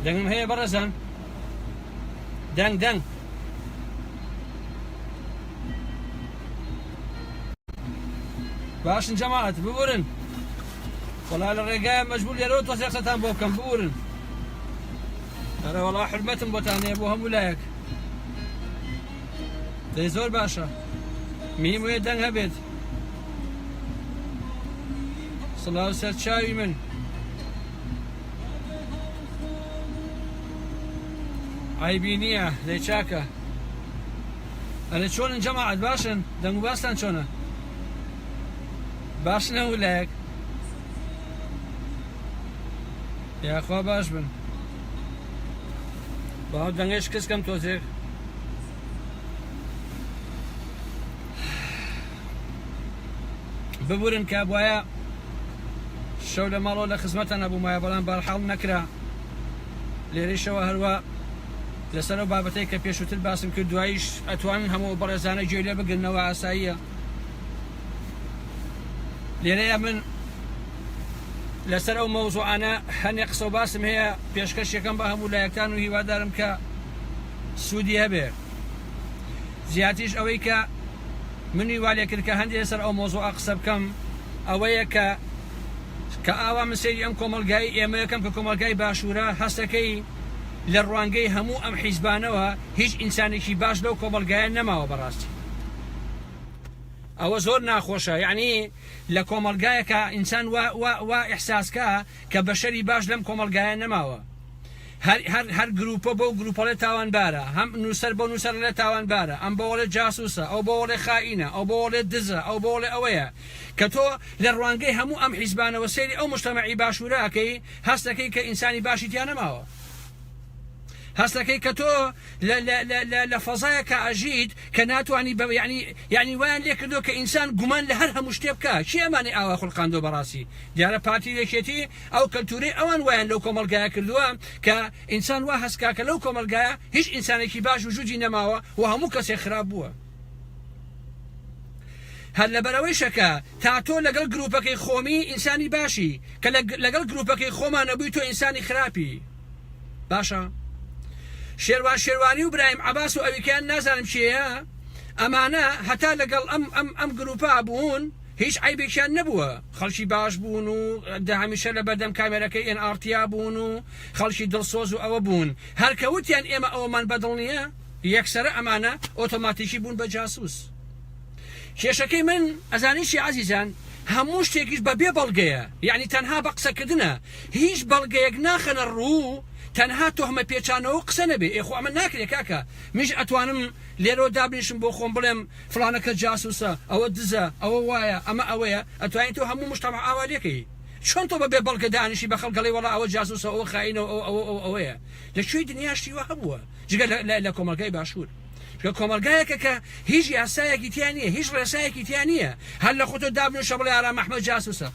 دەنگم هەیە بەڕێزان دەنگ دەنگ باشن جەماعەت ببورن وەڵا لە ڕێگایە مەجبور لێرەوە تۆزێقسەتان بۆ بکەم بورن ئەرە وەڵا حرمەتم بۆتان هەیە بۆ هەموو لایەک دەی زۆر باشە میم وێ دەنگ هەبێت سڵاو سەر چاوی من عیبی نییە دەی چاکە ئەرە چۆنن جەماعەت باشن دەنگ و باستان چۆنە باشن هەموو لایەک یاخوا باش بن باو دەنگێ شکستکەم تۆزێک ببورن کە بواە شەو لە ماڵۆ لە خزمەتە نەبوومایە بەڵام بارحاڵ نەکرا لێرەشەوە هەروە لەسەر و بابەتەی کە پێشووتر باسم کرد دوایش ئەتوان هەموو بەڕێزانە گوێ لێ بگرنەوە ئاساییە لێرەیە من لەسەر ئەو مەوزوعانە هەنێ قسە و باسم هەیە پێشکەشەکەم بە هەموو لایەکان و هیوادارم کە سوودی هەبێ زیاتیش ئەوەی کە منی والێ کرد کە هەندێک لەسەر ئەو مۆزوع قسە بکەم ئەوەیە کە کە ئاوا من سەیری ئەم کۆمەلگای ئێمە یەکەم کە کۆمەلگای باشوورە هەستەکەی لە ڕوانگەی هەموو ئەم حیزبانەوە هیچ ئینسانێکی باش لەو کۆمەلگایە نەماوە بەڕاستی ئەوە زۆر ناخۆشە یەعنی لە کۆمەڵگایەکا ئینسان وا وا وا ئیحساس کا کە بەشەری باش لەم کۆمەڵگایە نەماوە هەر هەر هەر گرووپە بەو گرووپەڵێ تاوانبارە هەم نووسەر بەو نووسەر لە تاوانبارە ئەم بەوەڵێ جاسووسە ئەو بەوەڵێ خائینە ئەو بەوەڵێ دزە ئەو بەوەڵێ ئەوەیە کە تۆ لە ڕوانگەی هەموو ئەم حیزبانەوە سەیری ئەو مشتەمەعی باشوورە ئەکەی هەست ئەکەی کە ئینسانی باشی تیا نەماوە هەستەکەی کە تۆ لە لە لە لە لە فەزایەکە ئەژیت کە ناتوانی بە یعنی یعنی وایان لێ کردو کە ئینسان گومان لە هەر هەموو شتێ بکە چی ئەمانی ئاوا خولقاندۆ بەڕاستی دیارە پارتی یەکێتی ئەو کەلتوری ئەوان وایان لەو کۆمەلگایە کردووە کە ئینسان وا هەستکا کە لەو کۆمەلگایە هیچ ئینسانێکی باش وجودی نەماوە و هەموو کەسێک خراپ بووە هەر لەبەرەوەیشە کە تا تۆ لەگەڵ گروپەکەی خۆمی ئینسانی باشی کە لەگەڵ گروپەکەی خۆمانەبووی تۆ ئینسانی خراپی باشە شێروان شێروانی و برایم عباس و ئەویکەیان نازانم چێە ئەمانە هەتا لەگەڵ ئەم ئەم ئەم گروپا بوون هیچ عیبێکیان نەبووە خەڵکی باش بوون و داهمیشە لە بەردەم کامێرەکەی ئێن ئارتیا بوون و خەڵکی دڵسۆز و ئەوە بوون هەرکەوتیان ئێمە ئەوەمان بەدڵ نییە یەکسرە ئەمانە ئۆتۆماتیکی بوون بە جاسوس کێشەکەی من ئەزانیشی عزیزان هەموو شتێکیش بە بێ بەڵگەیە یعنی تەنها بە قسەکردە هیچ بەڵگەیەک ناخەنە ڕوو تەنها تۆهمە پێچانەوەو قسە نەبێ ئێ خۆ ئەمە ناکرێ کاکە منیش ئەتوانم لێرەوە دابنیشم بۆ خۆم بڵێم فڵانە کەس جاسوسە ئەوە دزە ئەوە وایە ئەمە ئەوەیە ئەتوانی تۆ هەموو مجتەمع ئاوا لێکەی چۆن تۆ بەبێ بەڵگە دانیشی بەخەڵک ئەڵێی وەڵا ئەوە جاسوسە ئەوە خائینە ئەوە ئەوە ئەوە ئەوەیە لە کوێی دنیا شتی وا هەبووە جگە لە لە کۆمەڵگای باشوور کە کۆمەڵگایەکە کە هیچ یاسایەکی تیا نییە هیچ ڕێسایەکی تیا نییە هەر لە خۆتۆ دابنیشە بڵێ ئارام ئەحمەد جاسوسە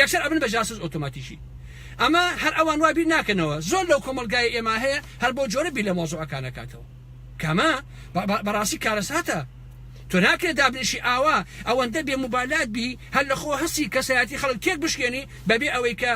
یەکسەر ئەبن بە جاسوس ئۆتۆماتیکی ئەمە هەر ئەوان وا بیر ناکەنەوە زۆر لەو کۆمەڵگای ئێمە هەیە هەر بۆ جۆرە بیر لە مۆزوعەکان نەکاتەوە کەمە بەڕاستی کارەساتە تۆ ناکرێت دابنیشی ئاوا ئەوەندە بێ مبالات بی هەر لە خۆ هەستی کەسایەتی خەڵک تێک بشکێنی بەبێ ئەوەی کە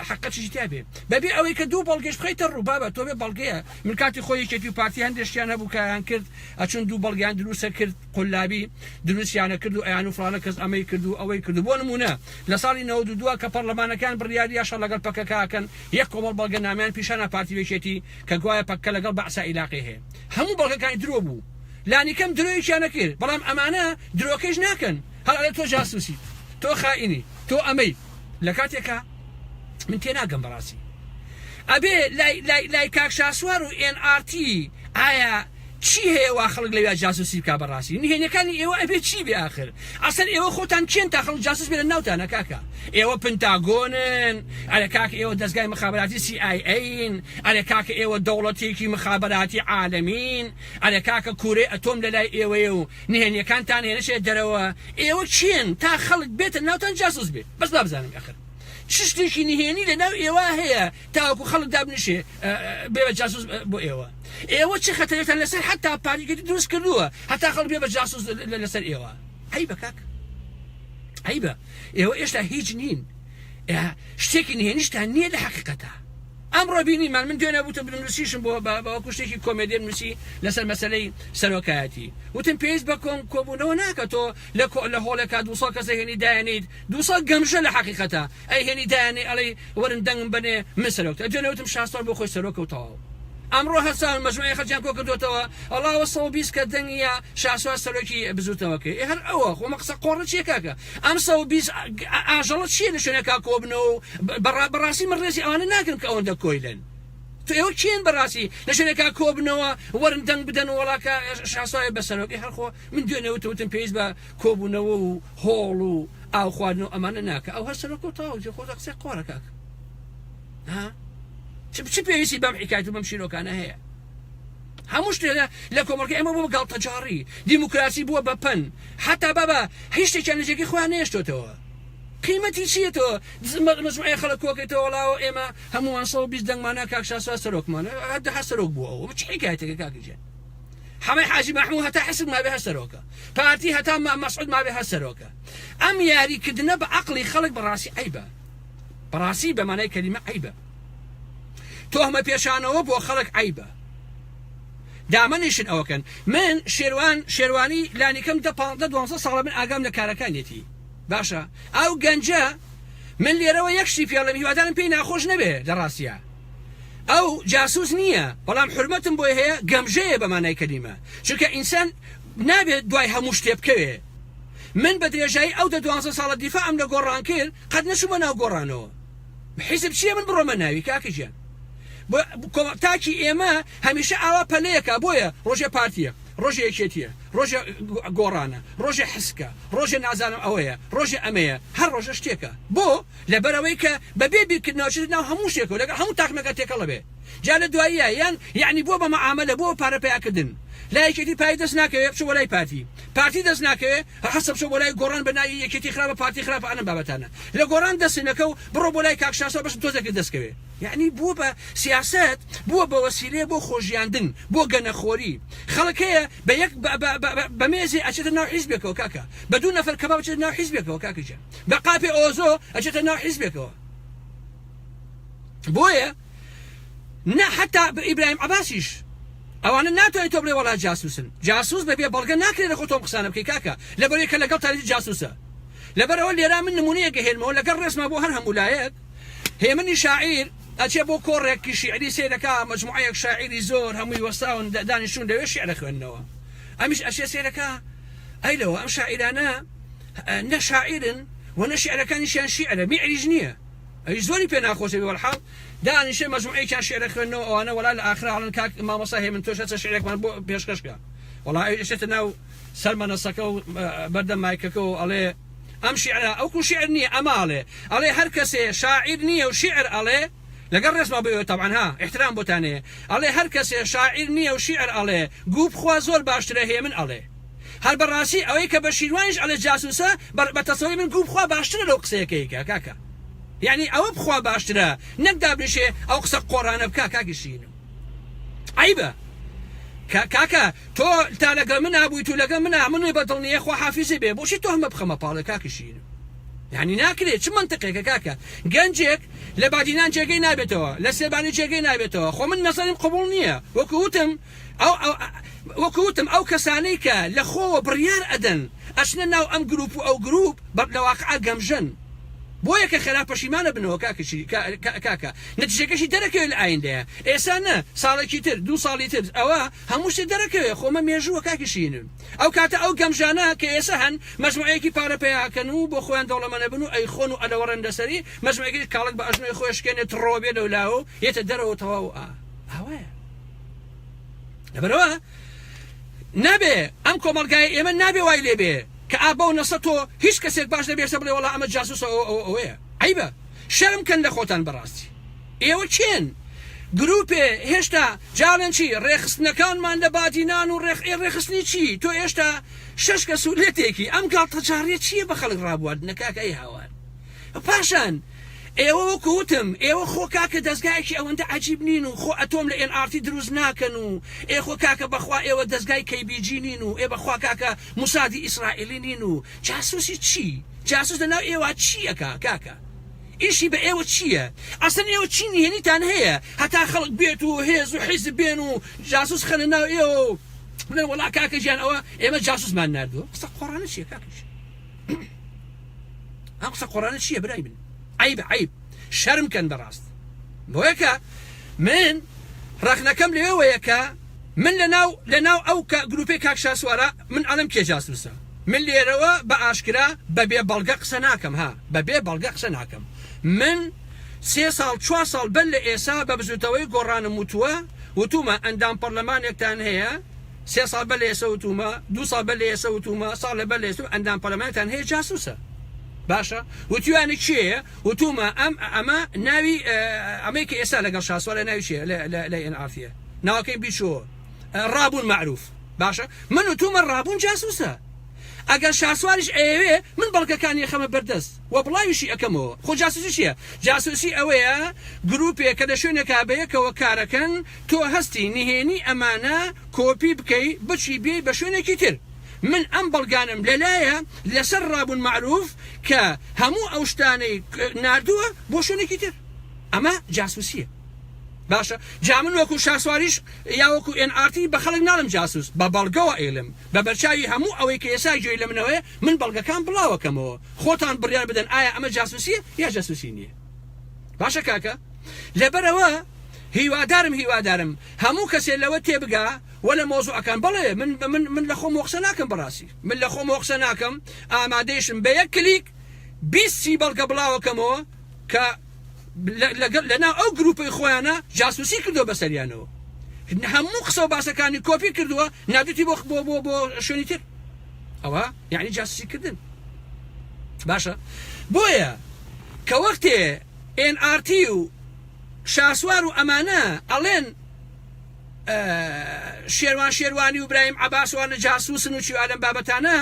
حقەتیشی تابێ بەبێ ئەوەی کە دوو بەڵگەش بخیتە ڕووبابە تۆ بێ بەڵگەیە من کاتی خۆی یەکێتی و پارتی هەندێشتیان هەبوو کایان کرد ئەچون دوو بەڵگیان دروستە کرد قولابی دروستیانە کرد و ئەیانوو فڵانە کەس ئەمەی کرد و ئەوەی کرد و بۆ نموونە لە ساڵی نەوەد و دوو کە پەڕلەمانەکەیان بڕیاری دا شەڕ لەگەڵ پەکەکە ئەکەن یەک کۆمەڵ بەڵگەنامەیان پیشانە پارتی وێکێتی کە گوایە پەککە لەگەڵ بەعسا ئیلاقەی هەیە هەموو بەڵگەکانی درۆ بوو لانی کەم درۆیەکیان نەکرد بەڵام ئەمانە درۆکەش ناکەن هەڵ ئەڵێ تۆ جاسووسیت تۆ خائینی تۆ ئەمەی لە کاتێکا من تێناگەم بەڕاستی ئەبێ لای لای لای کاک شاسوار و ئێن ئاڕتی ئایا چی هەیە وا خەڵک لەویا جاسوسی بکا بەڕاستی نهێنیەکانی ئێوە ئەبێ چی بێ ئاخر ئەسەر ئێوە خۆتان کێن تا خەڵک جاسوس بێنە ناوتانە کاکە ئێوە پنتاگۆنن ئەرە کاک ئێوە دەستگای مخابراتی سی ئای ئەین ئەرە کاکە ئێوە دەوڵەتێکی مخابراتی عالمین ئەرە کاکە کورەی ئەتۆم لەلای ئێوەیە و نهێنیەکانتان هێنەشێ دەرەوە ئێوە کێن تا خەڵک بێتە ناوتان جاسوس بێ بەس بابزانم ئەخر چ شتێکی نهێنی لەناو ئێوە هەیە تاوەکو خەڵک دابنیشێ بێ بە جاسوس بۆ ئێوە ئێوە چ خەتەرێتان لەسەر حتا پاریگەری دروست کردووە هەتا خەڵک بێ بە جاسوس لەسەر ئێوە ئەی بە کاک ئەی بە ئێوە ئێشتا هیچ نین شتێکی نهێنیشتان نییە لە حقیقەتە ئەمڕۆ بینیمان من دوێنە وتم بنووسیشم بۆ بەوەکو شتێکی کۆمێدی نووسی لەسەر مەسلەی سەرۆکایەتی وتم پێویست بە کۆم کۆبوونەوە ناکە تۆ لە لە هۆڵێکا دوسە کەسە هێنی دایێنیت دوو سەد گەمژە لە حەقیقەتە ئەی هێنی دایانێ ئەڵێی وەرن دەنگم بەنێ من سەرۆکت ئەجێ نەوتم شاسوار بۆ خۆی سەرۆکە و تەواو ئەمڕۆ هەرساون مەجموعی خەرجیان کۆ کردۆتەوە ئەڵاوە سەد و بیست کە دەنگیە شاسوار سەرۆکی بزوتنەوە کەی ئێ هەر ئەوە خۆ ئەمە قسە قۆڕە چیە کاکە ئەم سەد و بیست ئاژەڵە چیە لە شوێنێکا کۆبنەوە و بەڕا بەڕاستی من ڕێزی ئەوانە ناگرم کە ئەوەندە کۆیلەن تۆ ئێوە کێن بەڕاستی لە شوێنێکا کۆبنەوە وەرن دەنگ بدەن وەڵا کە شاسوارێ بە سەرۆک ئێ هەر خۆ من دوێنێ وتوتم پێویست بە کۆبونەوە و هۆڵ و ئاو خواردن و ئەمانە ناکە ئەو هەر سەرۆکە و تەواو جێ خۆت قسەی قۆڕە کاکە ها چ چ پێویستی بەم حکایەت و بەم شیرۆکانە هەیە هەموو شتێ لە لە کۆمەڵگە ئێمە بۆ گاڵتەجاڕی دیموکراسی بووە بە پەن حتا بابا هیچ شتێکیان لە جێگەی خۆیان نێشتۆتەوە قیمەتی چییە تۆ دزمەت مەجموعەیە خەڵک کۆکەیتەوە وەڵاوە ئێمە هەمووان سەد و بیست دەنگمانە کاک شاسوار سەرۆکمانە هەر دەها سەرۆک بووە ئەوە چ حکایەتێکە کاکە جێ حەمەی حاجی مەحموو هەتا حسک مابێ هەر سەرۆکە پارتی هەتا مام مەسعود مابێ هەر سەرۆکە ئەم یاری کردنە بە عقلی خەڵک بەڕاستی عیبە بەڕاستی بەمانای کەلیمە عیبە تۆهمە پێشانەوە بۆ خەڵک عیبە دامەنیشن ئەوەکەن من شێوان شێوانی لانیکەم دە پ دوازە ساڵە من ئاگام لە کارەکانێتی باشە ئەو گەنجە من لێرەوە یەکشتی پێڵم هیوادارم پێی ناخۆش نەبێ لە ڕاستە ئەو جاسوس نیە بەڵام حورمەتم بۆی هەیە گەمژەیە بە مانای کەلیمە چونکە ئینسان نابێت دوای هەموو شتێ بکەوێ من بە درێژایی ئەو دە دوانزە ساڵە دیفاعم لە گۆڕان کرد قەت نەچوومە ناو گۆڕانەوە حیزب چییە من بڕۆمە ناوی کاکە گیان تاکی ئێمە هەمیشە ئاوا پەلەیەکە بۆیە ڕۆژێ پارتیە ڕۆژێ یەکێتیە ڕۆژێ گۆڕانە ڕۆژێ حسکە ڕۆژێ نازانم ئەوەیە ڕۆژێ ئەمەیە هەر ڕۆژە شتێکە بۆ لەبەر ئەوەی کە بە بێ بیرکردنەوە ئەچێتە ناو هەموو شتێکە و لەگەڵ هەموو تاقمێکا تێکەڵ ئەبێ جا لە دواییە یان یەعنی بووە بە مەعامەلە بووە بە پارە پەیا کردن لا یەکێتی پارەی دەست ناکەوێ بچۆ بۆ لای پارتی پارتی دەست ناکەوێ هەحەسە بچۆ بۆ لای گۆڕان بە ناوی یەکێتی خراپە پارتی خراپە ئەنەم بابەتانە لە گۆڕان دەست نەکە و بڕۆ بۆ لای کاک شاسوار بەشم تۆزێ کرد دەست کەوێ یەعنی بووە بە سیاسەت بووە بە وەسیلەیە بۆ خۆژیاندن بۆ گەنە خۆری خەڵک هەیە بە یەک بە بە بە بە مێزێ ئەچێتە ناو حیزبێکەوە کاکە بە دوو نەفەر کەباب ئەچێتە ناو حیزبێکەوە کاکە گیان. بە قاپێ ئۆزۆ ئەچێتە ناو حیزبێکەوە بۆیە نە حتا ئیبراهیم عباسیش ئەوانە ناتوانێت تۆ بڵێ وڵا جاسوسن جاسوس بەبێ بەڵگە ناکرێت خۆ تۆم قسانە بکەی کاکە لە بەرێکە لەگەڵ تاریخ جاسوسە لەبەرەوە لێرا من نمونەیە گەهێنمەوە لەگەڵ ڕێزما بۆ هەر هەمولایەت هێمنی شاعیر ئەچێ بۆ کۆڕێکی شعری سیرەکە مجموعەیەک شاعری زۆر هەمووی وەستاون دانیشتون لەوێ شعرە خوێندنەوە ئەمیش ئەچێ سیرەکە ئەی لەوە ئەم شاعیرانە نە شاعیرن و نە شیعرەکانیشیان شیعرە، میعریش نییە، ئەویش زۆری پێ ناخۆشە بێ وەلحاڵ دانیشێ مەجموعەیەکیان شیعرە خوێندنەوە ئەوانە وەڵا لە ئاخرا ئەڵێن کاک مامۆستا هێمن تۆش ئەچە شیعرێکمان بۆ پێشکەش کە وەڵا ئەویش ئەچێتە ناو سەر مەنەسەکە و بەردەم مایکەکە و ئەڵێ ئەم شیعرە ئەوکو شیعر نییە ئەمە ئەڵێ ئەڵێ هەر کەسێ شاعیر نییە و شیعر ئەڵێ لەگەڵ ڕێزما بۆ ئێوە تەبعەن ها ئیحترام بۆتان هەیە ئەڵێ هەر کەسێ شاعیر نییە و شیعر ئەڵێ گوو بخوا زۆر باشترە هێ من ئەڵێ هەر بە ڕاستی ئەوەی کە بە شیروانیش ئەڵێ جاسووسە بە بە تەسەوری من گوو بخوا باشترە لەو قسەیە کە یکا کاکە یەعنی ئەوە بخوا باشترە نەک دابنیشێ ئەو قسە قۆڕانە بکا کاکی شیرینم عەیبە کە کاکە تۆ تا لەگەڵ منا بوویت و لەگەڵ منا منوی بەدڵ نییە خواحافیزی بێ بۆچی تۆ هەمە بخەمە پاڵێ کاکی شیرینم یانی ناکرێ چ مەنتقێکە کاکە گەنجێک لە بادینان جێگەی نابێتەوە لە سێبانی جێگەی نابێتەوە خۆ من نەزەریم قبوڵ نییە وەکو وتم ئەو وەکو وتم ئەو کەسانەی کە لە خۆوە بڕیار ئەدەن ئەچنە ناو ئەم گروپ و ئەو گروپ بەر لە واقعا گەمژەن بۆیە کە خەرا پەشیمانە بنەوە کاکەشی کاکە نەتیجەکەشی دەرەکەوێت لە ئایندەیە ئێسا نە ساڵێکی تر دوو ساڵی تر ئەوە هەموو شتێ دەرەکەوێت خۆمە مێژووە کاکەشین ئەو کاتە ئەو گەمژانە کە ئێسە هەن مەجموعەیەکی پارە پەیا ئەکەن و بۆ خۆیان دەوڵەمەنەبن و ئەیخۆن و ئەلەوەڕێن لەسەری مەجموعەکەی کاڵەک بە ئەژنۆی خۆی ئەشکێنێ تڕۆ ئەبێ لەولاوەو یەتە دەرەوەو تەواو ئا ئاوایە لەبەرەوە نابێ ئەم کۆمەڵگای ئێمە نابێ وای لێبێ کە ئا بەو نەسە تۆ هیچ کەسێک باش نەبێشە بڵێ وەڵا ئەمە جاسوسە ئەوە ئەوە ئەوەیە عیبە شەرم کەن لە خۆتان بەڕاستی ئێوە کێن گروپێ هێشتا جاڵێن چی ڕێخستنەکانمان لە بادینان و ڕێخ ئێ ڕێخستنی چی تۆ ئێشتا شەش کەس و لەتێکی ئەم گاڵتەجاڕیە چیە بە خەڵک ڕابواردنە کاکە ئەی هاوار پاشان ئێوە وەکو وتم ئێوە خۆ کاکە دەستگایەکی ئەوەندە عجیب نین و خۆ ئەتۆم لە ئێن ئارتی دروست ناکەن و ئێ خۆ کاکە بەخوا ئێوە دەستگای کەیبیجی نین و ئێ بەخوا کاکە موسادی ئیسرائیلی نین و جاسوسی چی؟ جاسوس لە ناو ئێوە چی ئەکا کاکە؟ ئیشی بە ئێوە چییە؟ ئەسلەن ئێوە چی نهێنیتان هەیە هەتا خەڵک بێت و هێز و حیزب بێن و جاسوس خەنە ناو ئێوە و بڵێن وەڵا کاکە گیان ئەوە ئێمە جاسوسمان ناردووە؟ قسە قۆڕانە چییە کاکە گیان؟ ئەم قسە قۆڕانە چییە برای من؟ عەیبە عەیب شەرم کەن بەڕاست بۆیە کە من ڕەخنەکەم لەوێوەیە کە من لە ناو لە ناو ئەو کە گروپەی کاک شاسوارە من ئەڵێم کێ جاسوسە من لێرەوە بە ئاشکرا بە بێ بەڵگە قسە ناکەم ها بە بێ بەڵگە قسە ناکەم من سێ ساڵ چوار ساڵ بەر لە ئێسا بە بزوتەوەی گۆڕانم وتووە وتومە ئەندام پەرلەمانێکتان هەیە سێ ساڵ بەر لە ئێسە وتومە دوو ساڵ بەر لە ئێسە وتومە ساڵ لە بەر لە ئێسە ئەندام پەرلەمانتان هەیە جاسوسە باشە وتیوانە کێیە وتومە ئەم ئەمە ناوی ئەمەی کە ئێستا لەگەڵ شاسوارە ناوی چیە لە ئێن ئافە ناوەکەی بیچۆ ڕابون مەعروف باشە من و تومە ڕابون جاسوسە ئەگەر شاسواریش ئەیەوێ من بەڵگەکانی ئەخەمە بەردەست و بڵاویشی ئەکەمەوە خۆ جاسوسی چییە جاسوسی ئەوەیە گروپێ کە لە شوێنێکا بەیەکەوە کارەکەن تۆ هەستی نهێنی ئەمانە کۆپی بکەی بچی بێی بە شوێنێکی تر من ئەم بەڵگانەم لەلایە لەسەر ڕابون مەعروف کە هەموو ئەو شتانەی ناردووە بۆ شوێنێکی تر ئەمە جاسوسیە باشە جا من وەکو شاسواریش یا وەکو ئێن ئارتی بە خەڵک ناڵم جاسوس بە بەڵگەوە ئەیڵێم بە بەرچاوی هەموو ئەوەی کە ئێستا گوێی لە منەوەیە من بەڵگەکان بڵاوەکەمەوە خۆتان بڕیار بدەن ئایا ئەمە جاسوسیە یا جاسوسی نییە باشە کاکە لەبەرەوە هیوادارم هیوادارم هەموو کەسێ لەوە تێبگا وە لە مۆزوعەکان بڵێ من من من لە خۆم وەخسە ناکەم بەڕاستی من لە خۆم وەخسە ناکەم ئامادەیشم بە یەک کلیک بیست سی بەڵگە بڵاوەکەمەوە کە لەناو ئەو گروپەی خۆیانە جاسوسی کردوە بەسەریانەوە هەموو قسە و باسەکانی کۆپی کردووە نادوتی بۆ بۆ بۆ بۆ شوێنی تر ئەوە یعنی جاسوسی کردن باشە بۆیە کە وەختێ NRT و شاسوار و ئەمانە ئەڵێن شێوان شێوانی و برایم عباسوانە جاسوسن و چیوالم بابەتانە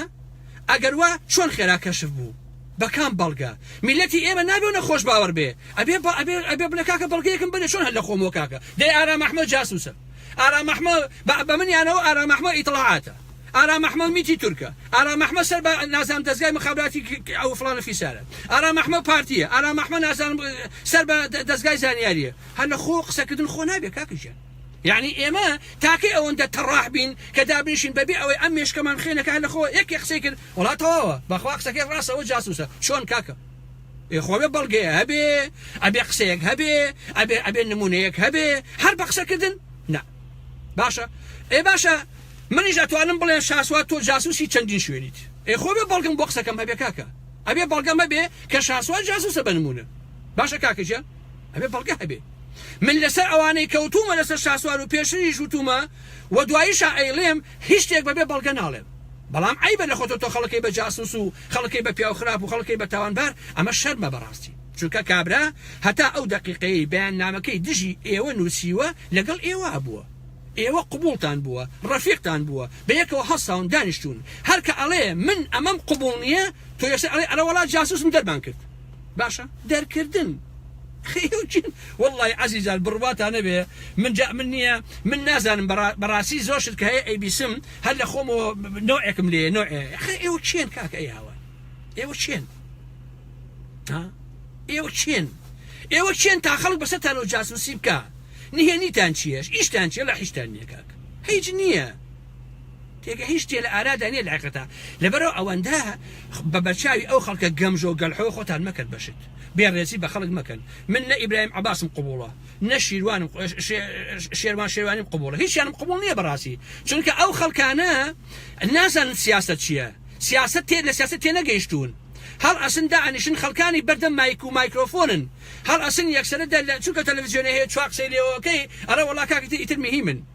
ئەگەر وا چۆن خێرا کەشف بوو بە کام بەڵگە؟ میلەتی ئێمە نابێ و نەخۆش باوەڕ بێ ئەبێ با ئەبێ ئەبێ بڵێ کاکە بەڵگەیەکم بەرێ چۆن هەر لە خۆمەوە کاکە دەی ئارام ئەحمەد جاسوسە ئارام ئەحمە بە بە منیانەوە ئارام ئەحمە ئیتڵاعاتە ئارام ئەحمە میتی تورکە ئارام ئەحمە سەر بە نازام دەزگای مخابراتی ئەو فڵانە فیسارە ئارام ئەحمە پارتیە ئارام ئەحمە نازانم سەر بە دەزگای زانیاریە هەر لە خۆ قسەکردن خۆ نابێ کاکە ژیان یعنی ئێمە تاکەی ئەوەندە تەڕاح بین کە دابنیشین بەبێ ئەوەی ئەم مێشکەمان خێنەکە هەر لە خۆ یەکێ قسەی کرد وەڵا تەواوە بەخوا قسەکەی ڕاستە ئەوە جاسوسە چۆن کاکە ئێ خۆێ بەڵگەیە هەبێ ئەبێ قسەیەک هەبێ ئەبێ ئەبێ نمونەیەک هەبێ هەر بە قسەکردن نا باشە ئێ باشە منیش ئەتوانم بڵێن شاسوات تۆ جاسوسی چەندین شوێنیت ئێ خۆێ بەڵگم بۆ قسەکەم هەبێ کاکە ئەبێ بەڵگەمە بێ کە شاسوات جاسوسە بە نمونە باشە کاکەجە ئەبێ بەڵگە هەبێ من لەسەر ئەوانەی کەوتومە لەسەر شاسوار و پێشریش وتومە و دواییشە ئەیڵێم هیچ شتێک بەبێ بەڵگە ناڵێن بەڵام عەیبە لە خۆتۆ تۆ خەڵکەی بە جاسوس و خەڵکەی بە پیاو خراپ و خەڵکەی بە تاوانبار ئەمە شەرمە بەڕاستی چونکە کابرا هەتا ئەو دەقیقەیەی بەیاننامەکەی دژی ئێوە نوسیوە لەگەڵ ئێوە بووە ئێوە قبوڵتان بووە ڕەفیقتان بووە بەیەکەوە هەڵساون دانیشتون هەر کە ئەڵێ من ئەمەم قبوڵ نیە تۆ یەکسەر ئەڵێ ئەرەوەڵا جاسوسم دەرمان کرد. باشە دەرکردن خەیوچن واللەی عەزیزان بڕواتان نەبێ من جا من نییە من نازانم بەڕاستی زۆر شت کە هەیە ئەیبیسم هەر لە خۆمەوە نۆعێکم لێ نۆ خە ئێوە چێن کاکە ئەیاوە ئێوە چێن ئێوە چێن ئێوە چێن تا خەڵک بەسەتان و جاسوسی بکە نهێنیتان چیەش ئیشتان چیە لە حیشتان نیە کاک هیچ نییە تێگەیشت تێ لە ئارادا نیە لە حەقیقەتا لەبەرەوە ئەوەندە بە بەرچاوی ئەو خەڵکە گەمژەو گەلحۆ خۆتان مەکەن بە شت بێ ڕێزی بە خەڵک مەکەن من نە ئیبراهیم عەباسم قبوڵە نە شیروانم شێروان شێروانیم قبوڵە هیچیانم قبوڵ نییە بەڕاستی چونکە ئەو خەڵکانە نازانن سیاست چییە سیاست تێ لە سیاست تێ نەگەیشتون هەڵ ئەسن دانیشن خەڵکانی بەردەم مایک و مایکرۆفۆنن هەڵ ئەسن یەکسەرە دەر لە چونکە تەلەڤزیۆنە هەیە چوا قسەی لێوەکەی ئەرە وەڵا کاکە ئیتر مهیمن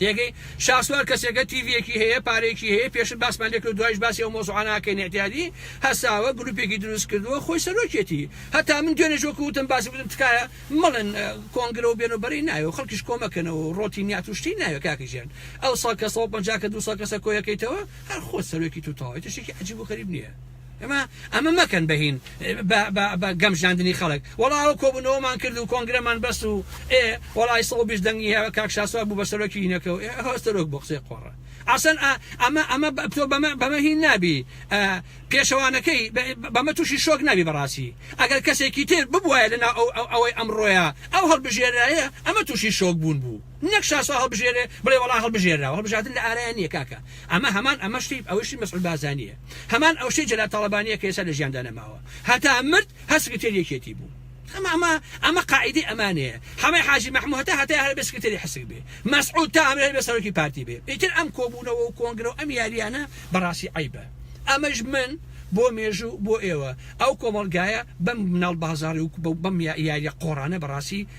تێگەی شاسوار کەسێکە تیڤیەکی هەیە پارێکی هەیە پێشن باسمان لێکرد دوایش باسی ئەو مۆزوعاناکەی نەعتیادی هەساوە گروپێکی دروست کردووە خۆی سەرۆکێتی هەتا من دوێنێش وەکو وتم باسی بودم تکایە مەڵێن کۆنگرە و بێن و بەرەی ناوێ و خەڵکیش کۆمەکەنەوە و ڕۆتی نیات و شتی ناوێ کاکە ژیان ئەو سەد کەسە و پەنجا کە دوو سەد کەسە کۆیەکەیتەوە هەر خۆت سەرۆکی تو تەواوی تشتێکی عەجیب و غەریب نییە ئەمە مەکەن بە هین بە گەمژاندنی خەڵک وەڵا ئەو کۆبوونەوەمان کرد و کۆنگرەمان بەس و ئێ وەڵای سەد و بیست دەنگی هەیە کاک شاسوار بوو بە سەرۆکی هینەکە و ئێ هەر سەرۆک بۆ قسەی قۆڕە ئاسن ئەمە ئەمە تۆ بەمە بەمە هین نابی پێشەوانەکەی بەمە تووشی شۆک نابی بەڕاستی ئەگەر کەسێکی تر ببوایە لەناو ئەو ئەوەی ئەمڕۆیە ئەو هەڵبژێرایە ئەمە تووشی شۆک بوون بوو نەک شاسوار هەڵبژێرێ بڵێ وەڵا هەڵبژێرراوە هەڵبژاردن لە ئارایان نیە کاکە ئەمە هەمان ئەمە شتی ئەوەی شتی مەسعود بازانیە هەمان ئەو شتەی جەلال تاڵەبانیە کە ئێستا لە ژیاندا نەماوە هەتا مرد هەر سکرتێری یەکێتی بوو ئەمە ئەمە ئەمە قاعیدەی ئەمانەیە حەمەی حاجی مەحموو هەتا هەتایە هەر ئەبێ سکرتێری حسک بێ مەسعود تا ئەمرێ هەر ئەبێ سەرۆکی پارتی بێ ئیتر ئەم کۆبوونەوە و کۆنگرە و ئەم یارییانە بەڕاستی عەیبە ئەمەش من بۆ مێژوو بۆ ئێوە ئەو کۆمەڵگایە بەم مناڵ بازاڕی و بەم یارییە قۆڕانە بەڕاستی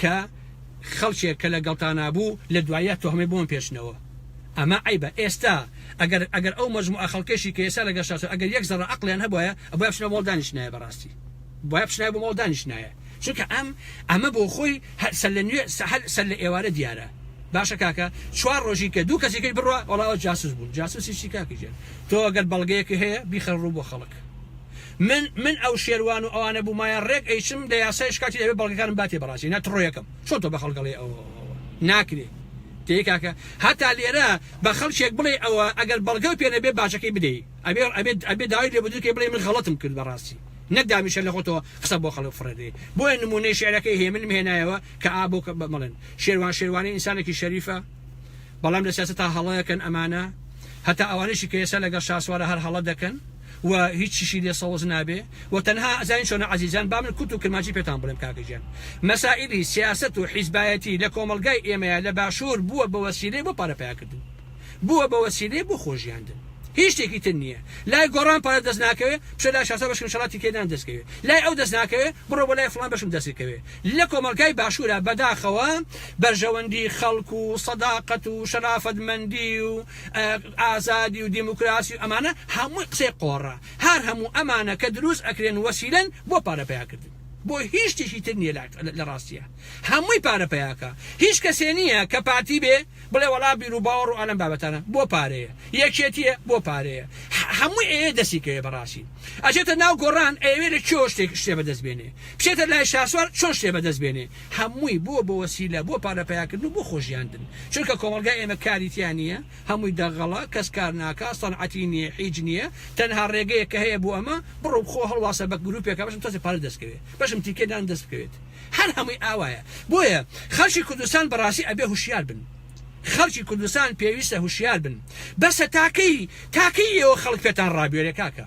کە خەڵکێک کە لە گەڵتانا بوو لە دواییا تۆهمەی بۆ من پێچنەوە ئەمە عەیبە ئێستا ئەگەر ئەگەر ئەو مەجموعە خەڵکەشی کە ئێستا لەگەڵ شاسوار ئەگەر یەک زەڕە عەقڵیان هەبوایە ئەبوایە بچنە ماڵ دانیشتنایە بەڕاستی بوایە بچنایە بۆ ماڵ دانیشتنایە چونکە ئەم ئەمە بۆ خۆی هەر سەر لە نوێ سەحەل سەر لە ئێوارە دیارە باشە کاکە چوار ڕۆژی کە دوو کەسی کەی بڕوا وەڵا ئەوە جاسوس بوون جاسوسی چی کاکە گیان تۆ ئەگەر بەڵگەیەکی هەیە بیخەرە ڕوو بۆ خەڵک من من ئەو شێروان و ئەوانە بومایە ڕێک ئەیچم لە یاسایش کاتی ئەوێ بەڵگەکانم با تێ بەڕازی نا تڕۆ یەکەم چۆن تۆ بە خەڵک ئەڵێ ئەوە ناکرێ تێی کاکە هەتا لێرە بە خەڵکێک بڵێ ئەوە ئەگەر بەڵگەو پێ نەبێ باجەکەی بدەی ئەبێ ئەبێت ئەبێ داوای لێ بدرکەی بڵێ من غەڵەتم کرد بەڕاستی نەک دامیشە لە خۆتەوە قسە بۆ خەڵک فڕێدەی بۆیە نمونەی شعرەکەی هەیە منم هێنایەوە کە ئا بۆ کە بەڵێن شێروان شێروانی ئینسانێکی شەریفە بەڵام لە سیاسەتا هەڵەکەن ئەمانە هەتا ئەوانەشی کە ئێستا لەگەڵ شاسوارە هەر هەڵە دەکەن و هیچیشی لێ سەوز نابێ و تەنها ئەزانین چۆنە عەزیزان با من کورت و کرمانجی پێتان بڵێم کاکە گیان مەسائیلی سیاسەت و حیزبایەتی لە کۆمەڵگای ئێمەیا لە باشوور بووە بە وەسیلەی بۆ پارە پەیا کردن بووە بە وەسیلەی بۆ خۆژیاندن هیچ شتێکی تر نییە لای گۆڕان پارە دەست ناکەوێ بچۆ لای شاسا بەشکم شەڵا تیکەی نان دەست کەوێ لای ئەو دەست ناکەوێ بڕۆ بۆ لای فڵان بەشم دەست کەوێ لە کۆمەڵگای باشوورا بەداخەوە بەرژەوەندی خەڵک و سەداقەت و شەرافەت مەندی و ئازادی و دیموکراسی و ئەمانە هەمووی قسەی قۆڕە هەر هەموو ئەمانە کە دروست ئەکرێن وەسیلەن بۆ پارە پیا کردن بۆ هیچ شتێکی تر نیە لە ڕاستیە هەمووی پارە پیاکە هیچ کەسێ نییە کە پارتی بێ بڵێ وەڵا بیر و باوەڕ و ئەلم بابەتانە بۆ پارەیە یەکێتیە بۆ پارەیە هەمووی ئەیە دەستی کەوێ بەڕاستی ئەچێتە ناو گۆڕان ئەوێ لە چۆ شتێک شتێ بەدەست بێنێ بچێتە لای شاسوار چۆن شتێ بەدەست بێنێ هەمووی بووە بۆ وەسیلە بۆ پارە پەیاکردن و بۆ خۆژیاندن چونکە کۆمەڵگای ئێمە کاری تیا نییە هەمووی دەغڵە کەس کار ناکا سەنعەتی نییە حیج نییە تەنها ڕێگەیەک کە هەیە بۆ ئەمە بڕۆ بخۆ هەڵواسە بە گروپێکا بەشم تۆزێ پارەت دەست کەوێ بەشم تیکێ دان دەست بکەوێت هەر هەمووی ئاوایە بۆیە خەڵکی کوردستان بەڕاستی ئەبێ هوشیار بن خەڵکی کوردستان پێویستە هوشیار بن بەسە تاکەی تاکەی ئێوە خەڵک پێتان ڕابوێرێ کاکە.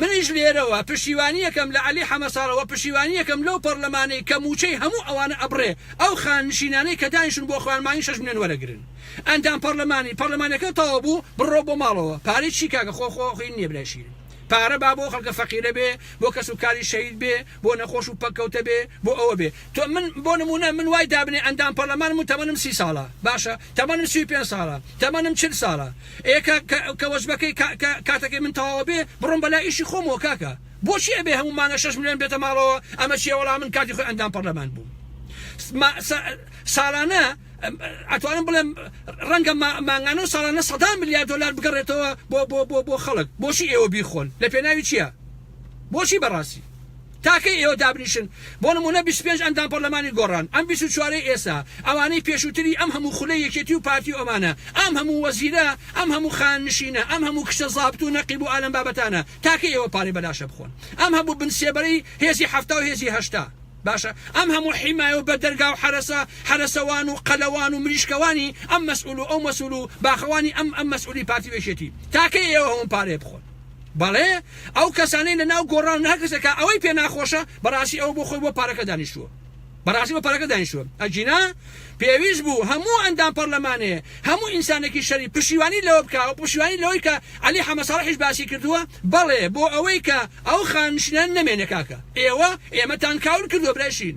منیش لێرەوە پشتیوانیەکەم لە عەلی حەمەساڵح وە پشتیوانیەکەم لەو پەڕلەمانەی کە مووچەی هەموو ئەوانە ئەبڕێ ئەو خاننشینانەی کە دانیشتون بۆ خوان مانگی شەش ملێۆن وەرەگرن ئەندام پەڕلەمانی پەڕلەمانەکەت تەواو بوو بڕۆ بۆ ماڵەوە پارەی چی کاکە خۆ خۆ خوین نیە برای شیرین پارە با بۆ خەڵکە فەقیرە بێ بۆ کەس و کاری شەهید بێ بۆ نەخۆش و پەککەوتە بێ بۆ ئەوە بێ تۆ من بۆ نموونە من وای دابنێ ئەندام پەڕلەمانم و تەمەنم سی ساڵە باشە تەمەنم سی و پێنج ساڵە تەمەنم چل ساڵە ئێ کە کە کە وەجبەکەی کا کە کاتەکەی من تەواوە بێ بڕۆم بەلا ئیشی خۆمەوە کاکە بۆچی ئەبێ هەموو مانگە شەش ملیۆن بێتە ماڵەوە ئەمە چیە وەڵا من کاتی خۆی ئەندام پەڕلەمان بووم ما سا ساڵانە ئەتوانم بڵێم ڕەنگە ما مانگانە و ساڵانە سەدان ملیار دۆلار بگەڕێتەوە بۆ بۆ بۆ بۆ خەڵک بۆچی ئێوە بیخۆن لە پێناوی چیە بۆچی بەڕاستی تا کەی ئێوە دابنیشن بۆ نموونە بیست و پێنج ئەندام پەرلەمانی گۆڕان ئەم بیست و چوارەی ئێستا ئەوانەی پێشووتری ئەم هەموو خولەی یەکێتی و پارتی و ئەمانە ئەم هەموو وەزیرە ئەم هەموو خاننشینە ئەم هەموو کچە زابت و نەقیب و ئالەم بابەتانە تا کەی ئێوە پارەی بە لاشە بخۆن ئەم هەموو بن سێبەرەی هێزی حەفتا و هێزی هەشتا باشە ئەم هەموو حیمایە و بەدەرگا و حەرەسە حەرەسەوان و قەلەوان و مریشکەوانی ئەم مەسئول و ئەو مەسئول و باخەوانی ئەم ئەم مەسئولی پارتی و یەکێتی تا کەی ئێوە هەموو پارەیە بخۆن بەڵێ ئەو کەسانەی لە ناو گۆڕان ناکەسە کە ئەوەی پێ ناخۆشە بەڕاستی ئەوە بۆ خۆی بۆ پارەکە دانیشتووە بەڕاستی بە پارەکە دانیشتووە ئەگینا پێویست بوو هەموو ئەندام پەرلەمانێ هەموو ئینسانێکی شەری پشیوانی لەوە بکە و پشیوانی لەوەی کە علی حەمەساڵحیش باسی کردووە بەڵێ بۆ ئەوەی کە ئەو خانشینە نەمێنێ کاکە ئێوە ئێمەتان کاول کردووە برای شین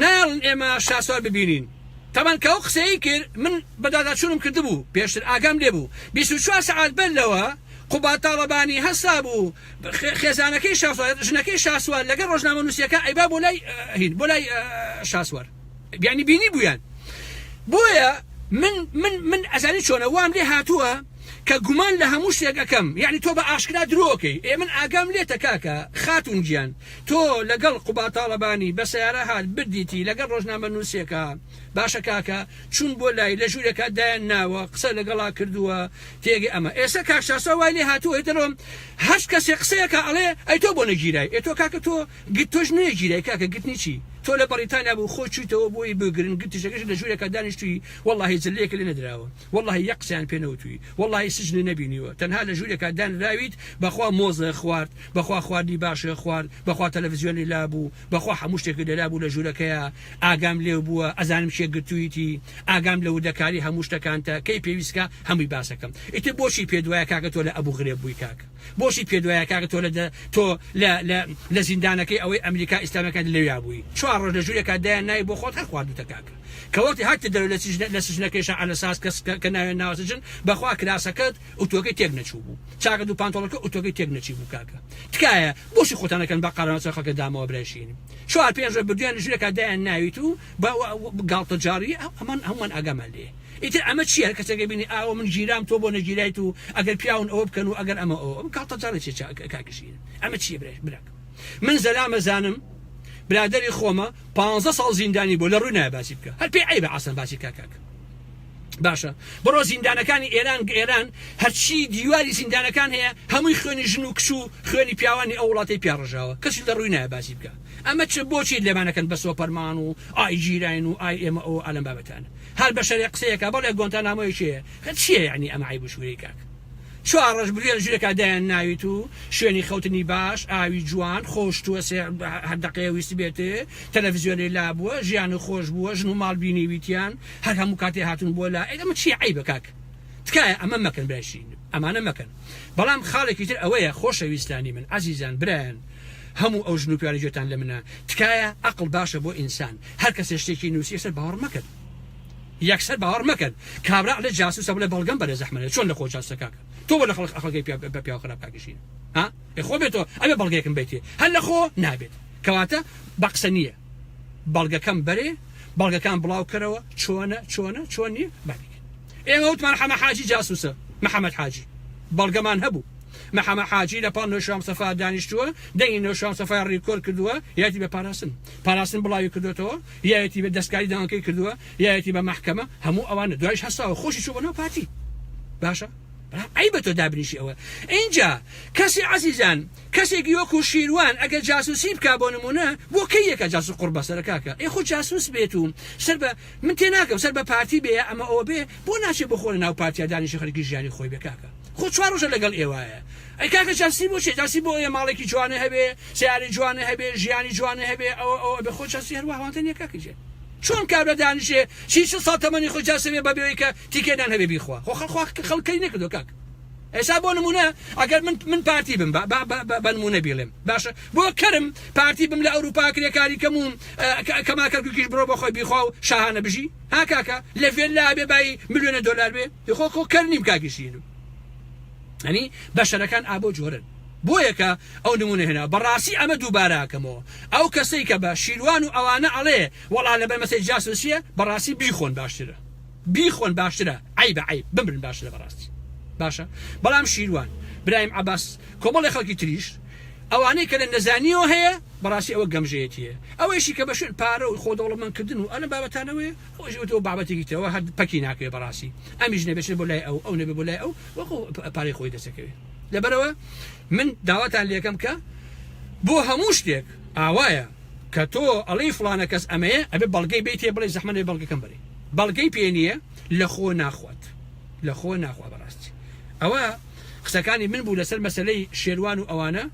نایەڵن ئێمە شاسوار ببینین. تەبەن کە ئەو قسەیەی کرد من بەدواداچوونم کردبوو، پێشتر ئاگام لێبوو بیست و چوار سەعات بەر لەوە قوباد تاڵەبانی هەستابوو خێزانەکەی شاسوار، ژنەکەی شاسوار لەگەڵ ڕۆژنامەنووسیەکان ئەیبا بۆ لای هین بۆ لای شاسوار یانی بینیبوویان بۆیە من من من ئەزانی چۆنە وام لێ هاتووە کە گومان لە هەموو شتێک ئەکەم یانی تۆ بە ئاشکرا درۆ ئەکەی ئێ من ئاگام لێتە کاکە خاتوون گیان تۆ لەگەڵ قوباد تاڵەبانی بە سەیارە هات بردیتی لەگەڵ ڕۆژنامەنوسێکا باشە کاکە چون بۆ لای لە ژورێکا دایان ناوە قسە لەگەڵا کردوە تێگەی ئەمە ئێستا کاک چاسا وای لێ هاتوە ئیتر ئەم هەشت کەسێ قسەیەکا ئەڵێ ئەی تۆ بۆ نەگیرای ئێ تۆ کاکە تۆ گت تۆش نوێ گیرای کاکە گتنی چی تۆ لە بەڕیتانیا بوو خۆت چویتەوە بۆی بگرن گتیشەکەشت لە ژورێکا دانیشتوی وەڵاهی زلەیەکە لێ نەدراوە وەڵاهی یەک قسەیان پێ نەوتوی وەڵاهی سجنە نەبینیوە تەنها لە ژورێکا دانراویت بەخوا مۆزە خوارد بەخوا خواردنی باشە خوارد بەخوا تەلەفزیۆنی لابوو بەخوا حەموو شتێکت لەلابوو لە ژورەکەیا ئاگام لێو بووە ئەزانم کێ گرتویتی ئاگام لە وردەکاری هەموو شتەکانتە کەی پێویستکا هەمووی باسەکەم ئیتر بۆچی پێت وایە کاکە تۆ لە ئەبوغرێب بووی کاک بۆچی پێت وایە کاکە تۆ لە تۆ لە لە لە زیندانەکەی ئەوەی ئەمریکا ئیسلامیەکان لەویا بووی چوار ڕۆژ لە ژورێکا دایان ناوی بۆ خۆت هەر خواردوتە کاکە کە وەختی هاتیتە دەرەوە لە سجنە لە سجنەکەیشا عەلە ساس کەس کە کە ناویان ناوە سجن بەخوا کراسەکەت ئوتوەکەی تێک نەچوو بوو چاکەت و پانتۆڵەکە ئوتوەکەی تێک نەچی بوو کاکە تکایە بۆچی خۆتان ئەکەن بە قەرەناس خەڵکە دامەوە برای شیرین چوار پێنج ڕۆژ بردویان لە ژورێکا دایان ناویت و بە گاڵتەجاڕی ئەمان هەموومان ئاگامان لێیە ئیتر ئەمە چیە هەر کەسێک ئەبینی ئاوە من گیرام تۆ بۆ نەگیرایت و ئەگەر پیاون ئەوە بکەن و ئەگەر ئەمە ئەوە ئەم گاڵتەجاڕی چیە چا کاک ژیر ئەمە چیە برای براک من زەلام ئەزانم برادەری خۆمە پانزە ساڵ زیندانی بۆ لە ڕووی نایە باسی بکە هەر پێی عیبە عەسەن باسی کا کاک باشە بڕۆ زیندانەکانی ئێران ئێران هەرچی دیواری زیندانەکان هەیە هەمووی خوێنی ژن و کچ و خوێنی پیاوانی ئەو وڵاتی پیاڕژاوە کەسی لە ڕووی نایە باسی بکە ئەمە چ بۆچی لێمانەکەن بە سۆپەرمان و ئای ژیراین و ئای ئێمە ئەو ئالم بابەتانە هەر بەشەرێ قسەیەکا بەڵێ گۆنتانامۆیەکی هەیە خە چیە یەعنی ئەمە عەیب و شورەی کاک چوار ڕۆژ بلوێن ژورێکا دایان ناویت و شوێنی خەوتنی باش ئاوی جوان خۆش توە سێ هەر دەقەیە ویست بێت تەلەڤزیۆنی لابووە ژیان و خۆش بووە ژن و ماڵ بینیویتیان هەر هەموو کاتێ هاتون بۆ لا ئەی ئەمە چیە عەیبە کاک تکایە ئەمە مەکەن برای شیرینم ئەمانە مەکەن بەڵام خاڵێکی تر ئەوەیە خۆشەویستانی من عەزیزان برایان هەموو ئەو ژن و پیانەی جێتان لە منە تکایە ئەقڵ باشە بۆ ئینسان هەر کەسێ شتێکی نووسی یەکسەر باوەڕ مەکەن یەکسەر باوەڕ مەکەن کابرا لە جاسوسە بڵێ بەڵگەم بەرێ زەحمەنە چۆن لە خۆ جاسوسە کاکە تۆ بە لە خەڵک ئەقڵەکەی پیا بە پیاو خراپ کاکیشین ها ئێ خۆ بێتەوە ئەوێ بەڵگەیەکم بیتێ هەر لە خۆ نابێت کەواتە بە قسە نییە بەڵگەکەم بەرێ بەڵگەکان بڵاو کەرەوە چۆنە چۆنە چۆن نییە بابێت ئێمە وتمان حەمە حاجی جاسوسە محمد حاجی بەڵگەمان هەبوو محمد حاجی لە پاڵ نۆشاو مستەفا دانیشتووە دەنگی نۆشاو مستەفای ڕیکۆرد کردووە یایەتی بە پاراستن پاراستن بڵاوی کردۆتەوە یایەتی بە دەستکاری داوانکەی کردووە یایەتی بە مەحکەمە هەموو ئەوانە دوایش هەستاوە خۆشی چوو بۆ ناو پارتی باشە بەڵام ئەی بە تۆ دابنیشی ئەوە ئینجا کەسی عەزیزان کەسێکی وەکو شیروان ئەگەر جاسوسی بکا بۆ نمونە بۆ کەی یەکە جاسوس قوڕ بەسەرە کاکە ئێ خۆ جاسوس بێت و سەر بە من تێناگەم سەر بە پارتی بێ ئەمە ئەوە بێ بۆ ناچێ بۆ خۆ لە ناو پارتیا دانیشێ خەرکی ژیانی خۆی بێ کاکە خۆ چوار ڕۆژە لەگەڵ ئێوایە ئەی کاکە چەسنی بۆ چێ چەسنی بۆ ئەوێ ماڵێکی جوانێ هەبێ سەیارەی جوانێ هەبێ ژیانی جوانێ هەبێ ئەوە ئەوە ئەبێ خۆ چەسنی هەر وەهوانتە نیە کاکە گیان چۆن کابرا دانیشێ سی چل ساڵ تەمەنی خۆی جاسەوێ بە بێەوەی کە تیکەی نان هەبێ بیخوا خۆ خەڵ خوا خەڵک کەری نەکردوە کاک. ئێسا بۆ نمونە ئەگەر من من پارتی بم بەنمونە بیڵێم باشە بۆ کەرم پارتی بم لە ئەوروپا کرێکاری کەم و کەما کەرککیش بڕۆ بە خۆی بیخوا و شاهانە بژی ها کاکە لە ڤێن لا بێ بای میلیۆنە دلار بێ خۆ خۆ کەر نیم کاگیشینم ئەنی بەشەرەکان ئابۆ جۆرن بۆ یەکە ئەو نمونە هێنا بەڕاستی ئەمە دووباراکەمەوە ئەو کەسەی کە بە شیروان و ئەوانە ئەڵێ وەڵا لەبەر مەسەی جاسوسیە بەڕاستی بیخۆن باشترە بیخۆن باشترە عەیبە عەیب بمرن باشترە بەڕاستی باشە بەڵام شیروان برایم عەباس کۆمەڵی خەڵکی تریش ئەوانەی کە لە نەزانیەوە هەیە بەڕاستی ئەوە گەمژەیەتیە ئەوەیشی کە بە شوێن پارە و خۆ دەوڵەمەندکردن و ئەلە بابەتانەوەی ئەوەش وتەوە بابەتێکی تەوە هەر پەکی ناکەوێت بەڕاستی ئەمیش نەبێت بۆ لای ئەو ئەو نەبێ بۆ لای ئەو وەکو پارەی خۆی دەسەکەوێت لەبەرەوە من داواتان لەکەم کە بۆ هەموو شتێک ئاوایە کە تۆ ئەڵی فلانە کەس ئەمەیە ئەبێ بەڵگەی بیتێ بڵێ زەحمەێ بەڵگەکەم بەرێ بەڵگەی پێ نیە لەخۆ ناخوات لەخۆ ناخوا بەڕاستی ئەوە قسەکانی من بوو لەسەر مەسلەی شێروان و ئەوانە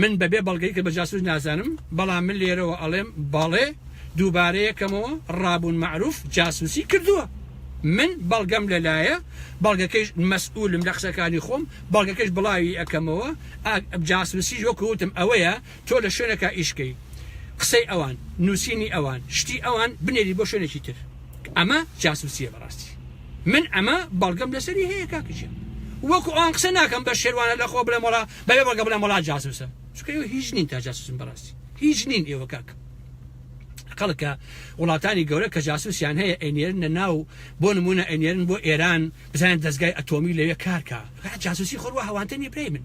من بەبێ بەڵگەی کە بە جاسوس نازانم بەڵام من لێرەوە ئەڵێم بەڵێ دووبارەیەکەمەوە ڕابوون معروف جاسوسی کردووە من بەڵگەم لەلایە بەڵگەکەیش مەسئولم لە قسەکانی خۆم بەڵگەکەش بڵاوی ئەەکەمەوە جاسوسی وەکوتم ئەوەیە تۆ لە شوێنەکا ئیش کەی قسەی ئەوان نوسینی ئەوان شتی ئەوان بنێری بۆ شوێنێکی تر ئەمە جاسوسیە بەڕاستی من ئەمە بەڵگەم لەسەری هەیە کاکجیان وەکو ئەوان قسە ناکەم بە شێوانە لە خۆ بڵێم وڵا بەێ بەڵگە بڵێم وڵا جاسوسە چکەوە هیچ نین تا جاسوسم بەڕاستی هیچ نین ئێوە کاک خەڵکە وڵاتانی گەورە کە جاسوسیان هەیە ئەنێرن لە ناو بۆ نمونە ئەنێرن بۆ ئێران بزانێن دەستگای ئەتۆمی لەوێ کارکە جاسوسی خۆڕوە هەوانتە نیە برای من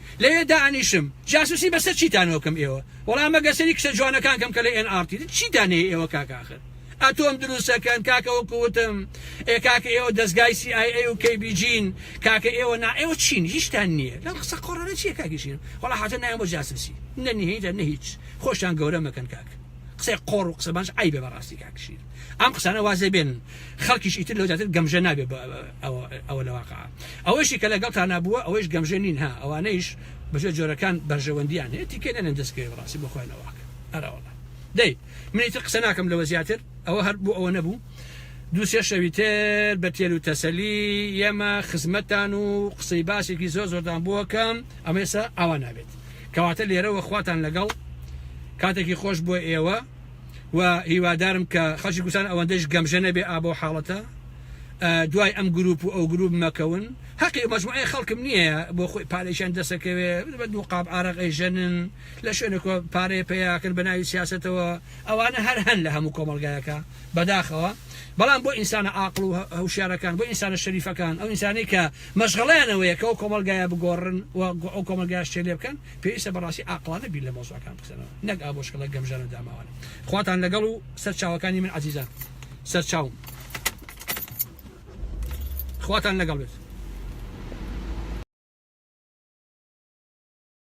لەوێ دائەنیشم جاسوسی بەسەر چیتانەوە بکەم ئێوە وەڵا مەگەر سەری کچە جوانەکان کەم کە لە ئێن ئاڕ تی چیتان هەیە ئێوە کاکە ئاخر ئەتۆم دروستەکەن کاکە وەکو وتم ئێ کاکە ئێوە دەزگای سی ئای ئەی و کەی بی جین کاکە ئێوە نا ئێوە چین هیچتان نییە لەم قسە قۆڕانە چییە کاکیشین وەڵا حەتە نایەم بۆ جاسوسی نە نهێنیتان نە هیچ خۆشتان گەورە مەکەن کاک قسەی قۆڕ و قسەبانش عەیبە بەڕاستی کاکشیر ئەم قسانە واز لێ بێنن خەڵکیش ئیتر لەو زیاتر گەمژە نابێ بە ئەوە لە واقع ئەوەشی کە لەگەڵ تانا بووە ئەوەیش گەمژە نین ها ئەوانەیش بەژێ جۆرەکان بەرژەوەندیان هەیە تیکە نەنێن دەستکەوێ بڕاستی بۆ خۆیان ئەوواک ئەراوەڵە دەی منیتر قسە ناکەم لەوە زیاتر ئەوە هەر بوو ئەوە نەبوو دوو سێ شەوی تر بە تێل و تەسەلی ئێمە خزمەتتان و قسەی باسێکی زۆر زۆردان بووەکەم ئەمەسا ئاوا نابێت کەواتە لێرەوە خواتان لەگەڵ کاتێکی خۆش بۆ ئێوە و هیوادارم کە خەڵکی کوردستان ئەوەندەش گەمژە نەبێ ئا بەو حاڵەتە دوای ئەم گروپ و ئەو گروپ مەکەون حەقی مەجموعەیە خەڵکم نییە بۆ خۆی پارێکیان دەسەکەوێ بە دوو قاب ئارەقی ژەنن لە شوێنەکە پارەیە پیاکرد بە ناوی سیاستەوە ئەوانە هەر هەن لە هەموو کۆمەلگایەکە بەداخەوە بەڵام بۆ ئینسانە ئاقل و هەوشارەکان بۆ ئینسانە شەریفەکان ئەو ئینسانی کە مەشغڵیانەوەیە کە ئەو کۆمەلگایە بگۆڕن و ئەو کۆمەلگاشتێ لێ بکەن پێویستە بەڕاستی عاقڵانە بیر لە مەوزوعەکان بکەنەوە نەک ئابۆشکەڵە گەمژان و داماوان خواتان لەگەڵ و سەر چاوەکانی من عزیزان سەر چاوم خواتان لەگەڵ بێت